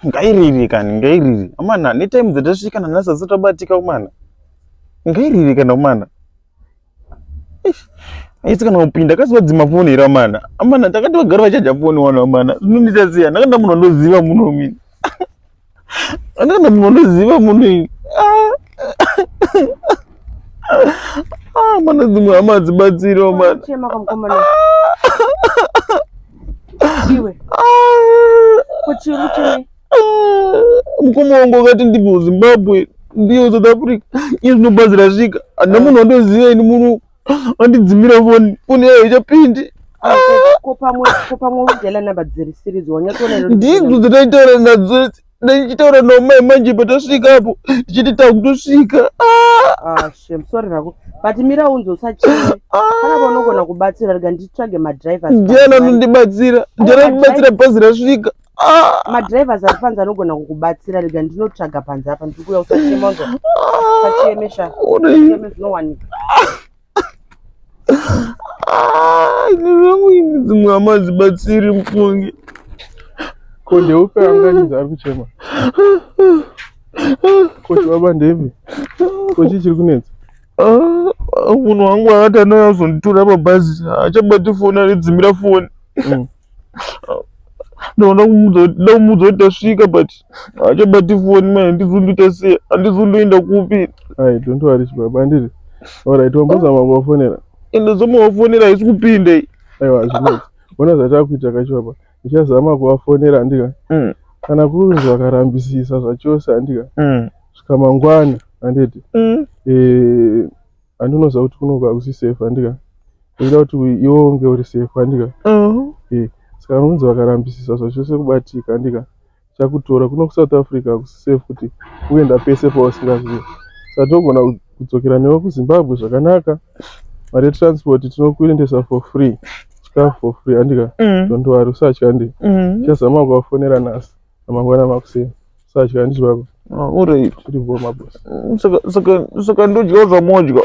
ngairiri kani ngairiri amana netime dzatasvika nanhasi asi tabatika umana ngairiri kana umana aisi kana kupinda akasivadzima foni here amana amana takati vagari vachaja foni wano amana zvinondiita sei andakanda munhu andoziva munhu mini andakanda munhu andoziva munhu ini ah. ah, mana dzimwe hama dzibatsiro mana iwe kuti uri kutii mukoma wangu akati ndibve kuzimbabwe ndiyo south africa iye zvinobatsira svika handina munhu wandoziva ini munhu andidzimira foni foni yayo ichapindi ndidzo dzataitaura nadzo idzi ndichitaura nomai manje patasvika apo ndichiti takutosvika ah! sorry rako but mira unzi usachine kana vanogona kubatsira rega nditsvage madrivers ndiana anondibatsira ndiana anondibatsira bhazi rasvika ah! madrivers ari panze anogona kukubatsira rega ndinotsvaga panze apa ndiri kuya usachema unzo usachemesha zvinowanika Ah, zvangu ini dzimwe hama hadzibatsiri mufungi ko ndeupe anganyizi ari kuchema ko chibaba ndepi ko chii chiri kunetsa Ah, munhu wangu akati anouya kuzonditora pabhazi haachabati foni anodzimira foni Mm. ndoona kumuudza kuti tasvika but haachabati foni mai handizunduita sei handizunduenda kupi ai don't worry chibaba andiri orit wambozama kuvafonera ndozama kuvafonera haisi kupinda i aiwa hazvinei ona zvatakuita kachibaba ndichazama kuvafonera andika mm. kana kunzi vakarambisisa zvachose andika mm. svika mangwana anditi mm. eh, Andinoziva kuti kunoka usi safe andika. Ndinoda kuti iwe unge uri safe andika. Uh -huh. Eh, saka vanonzi vakarambisisa zvachose kubatika andika. Chakutora kuno ku South Africa kusi safe kuti uenda pese pausingazivi. Saka tinogona kudzokera newe ku Zimbabwe zvakanaka. Mari ye transport tinokuendesa for free. Chikafu for free andika. Mm. Don't worry, usatya andika. Mm. Chazama kuvafonera nhasi. Amangwana makuseni. Sadya handiti baba. Ah, uri kuti bho mabosi. Mm, saka saka saka ndodyawo zvamodya.